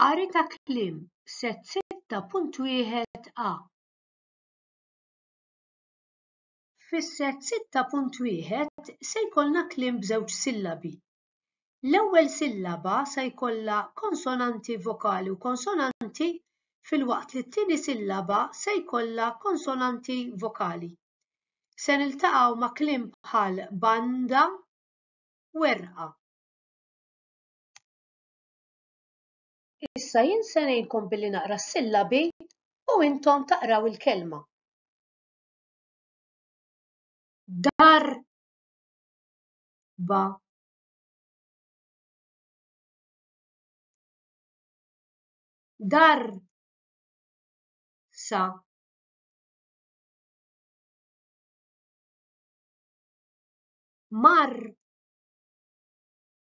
Qari ta' kliem f'sett 6.1 a. Fis-sett 6.1 se jkollna kliem b'żewġ sillabi. L-ewwel sillaba se jkollha konsonanti vokali u konsonanti filwaqt li t-tieni sillaba se jkollha konsonanti vokali. Se niltaqgħu ma' kliem bħal banda, werqa. Issa jien se ngħinkom billi naqra s-sillabi u intom taqraw il-kelma. Dar ba dar sa mar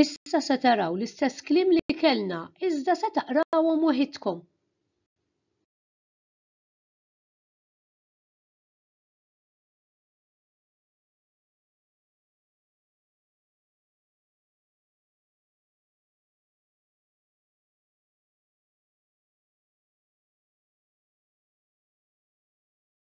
Issa se taraw l-istess kliem li kellna, iżda se taqrawhom waħidkom.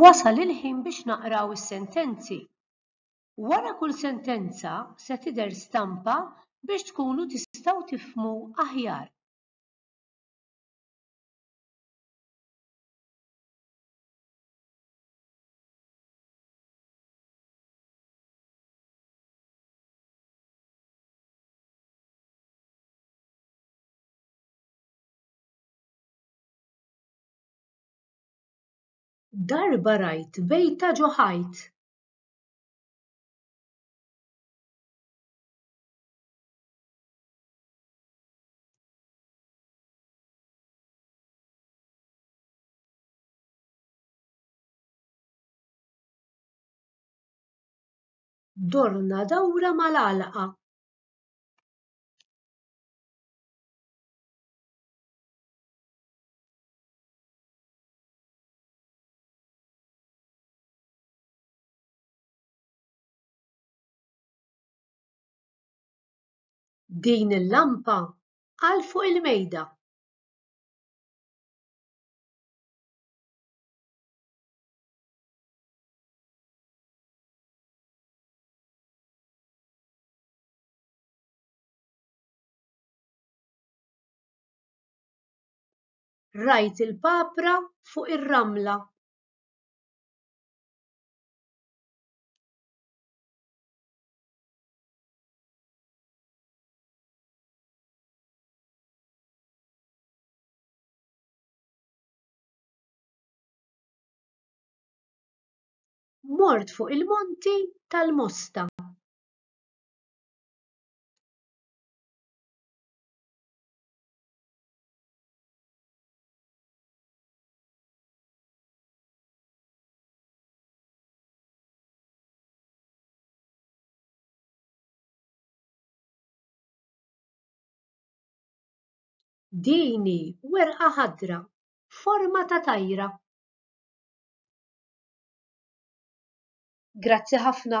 Wasal il-ħin biex naqraw is-sentenzi. Wara kull sentenza se tidher stampa biex tkunu tistgħu tifhmu aħjar. Darba rajt bejta ġo ħajt. dorna dawra mal-għalqa. din il-lampa għal fuq il-mejda. rajt il-papra fuq ir-ramla. mort fuq il-monti tal-Mosta. Din hi werqa ħadra forma ta' tajra. Grazzi ħafna.